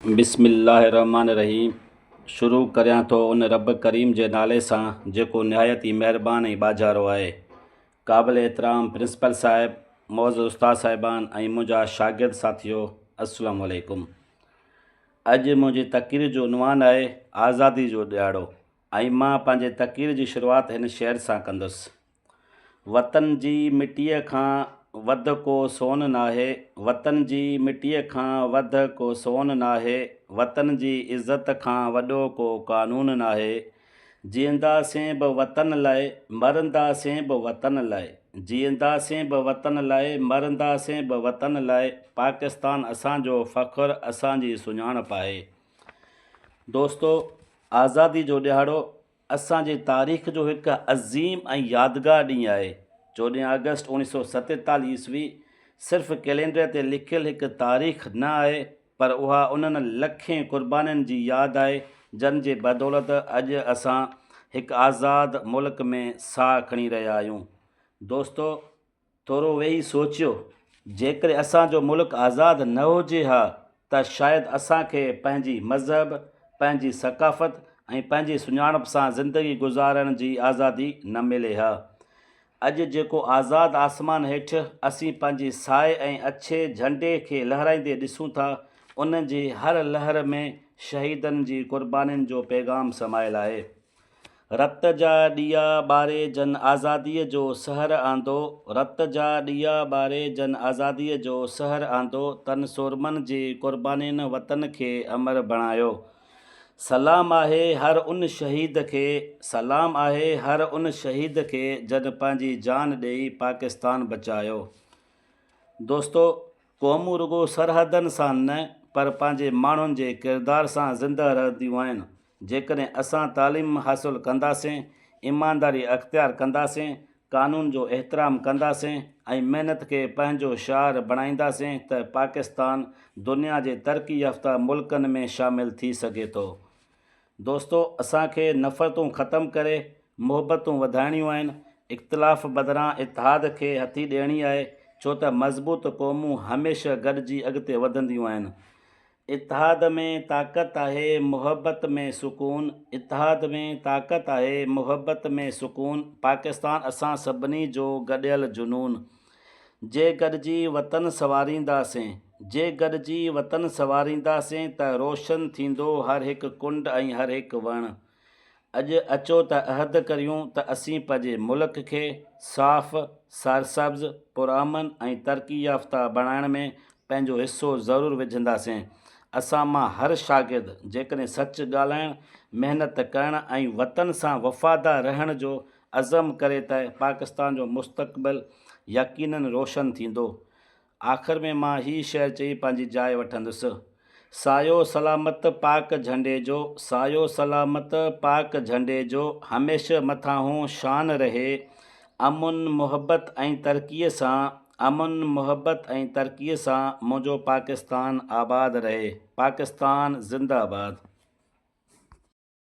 بسم الله الرحمٰن الرحيم شروع ڪريان ٿو ان رب ڪريم جي نالي سان جيڪو نهايت ئي مهربان ۽ ٻاجهارو آهي. قابل احترام پرنسپل صاحب، معزز استاد صاحبان ۽ منهنجا شاگرد ساٿيو السلام عليڪم. اڄ منهنجي تقرير جو عنوان آهي آزادي جو ڏهاڙو ۽ مان پنهنجي تقرير جي شروعات هن شعر سان ڪندس. وطن جي مٽيء کان وڌ ڪو سون ناهي، وطن جي مٽيء کان وڌ ڪو سون ناهي، وطن جي عزت کان وڏو ڪو قانون ناهي، جيئنداسين به وطن لاء، مرنداسين به وطن لاء، جيئنداسين به وطن لاء، مرنداسين به وطن لاء، پاڪستان اسان جو فخر، اسان جي سڃاڻپ آهي. دوستو! آزادي جو ڏهاڙو. اسان جي تاريخ جو هڪ عظيم ۽ يادگار ڏينهن آهي. چوڏهن آگسٽ اوڻيهه سؤ ستيتاليهه عيسوي صرف ڪئلينڊر تي لکيل هڪ تاريخ نه آهي پر اها انهن لکين قربانين جي ياد آهي جن جي بدولت اڄ اسان هڪ آزاد ملڪ ۾ ساهه کڻي رهيا آهيون. دوستو! ٿورو ويهي سوچيو، جيڪڏهن اسان جو ملڪ آزاد نه هجي ها ته شايد اسان کي پنهنجي مذهب، پنهنجي ثقافت ۽ پنهنجي سڃاڻپ سان زندگي گذارڻ جي آزادي نه ملي ها. اڄ جيڪو آزاد آسمان هيٺ اسين پنهنجي سايي ۽ اڇي جهنڊي کي لهرائيندي ڏسون ٿا، ان جي هر لهر ۾ شهيدن جي قربانين جو پيغام سمايل آهي. رت جا ڏيئا ٻاري جن آزاديء جو سحر آندو، رت جا ڏيئا ٻاري جن آزاديء جو سحر آندو، تن سورمن جي قربانين وطن کي امر بڻايو. سلام آهي هر ان شهيد کي، سلام آهي هر ان شهيد کي جن پنهنجي جان ڏيئي پاڪستان بچايو. دوستو قومون رڳو سرحدن سان نه پر پنهنجي ماڻهن جي ڪردار سان زنده رهنديون آهن. جيڪڏهن اسان تعليم حاصل ڪنداسين، ايمانداري اختيار ڪنداسين، قانون جو احترام ڪنداسين ۽ محنت کي پنهنجو شعار بڻائينداسين ته پاڪستان دنيا جي ترقي يافته ملڪن ۾ شامل ٿي سگهي ٿو. دوستو اسان کي نفرتون ختم ڪري محبتون وڌائڻيون آهن، اختلاف بدران اتحاد کي هٿي ڏيڻي آهي ڇو ته مضبوط قومون هميشه گڏجي اڳتي وڌنديون آهن. اتحاد ۾ طاقت آهي محبت ۾ سڪون اتحاد ۾ طاقت آهي محبت ۾ سڪون پاڪستان اسان سڀني جو گڏيل جنون جي گڏجي وطن سنوارينداسين جي گڏجي وطن سنوارينداسين ته روشن ٿيندو هر هڪ ڪنڊ ۽ هر هڪ وڻ. اڄ اچو ته عهد ڪريون ته اسين پنهنجي ملڪ کي صاف، سرسبز، پرامن ۽ ترقي يافته بڻائڻ ۾ پنهنجو حصو ضرور وجهنداسين. اسان مان هر شاگرد جيڪڏهن سچ ڳالهائڻ، محنت ڪرڻ ۽ وطن سان وفادار رهڻ جو عزم ڪري ته پاڪستان جو مستقبل يقينن روشن ٿيندو. آخر ۾ مان هي شعر چئي پنهنجي جاء وٺندس. سايو سلامت پاڪ جهنڊي جو سايو سلامت پاڪ جهنڊي جو هميشه مٿانهون شان رهي امن محبت ۽ ترقي سان امن محبت ۽ ترقي سان منهنجو پاڪستان آباد رهي پاڪستان زنده آباد.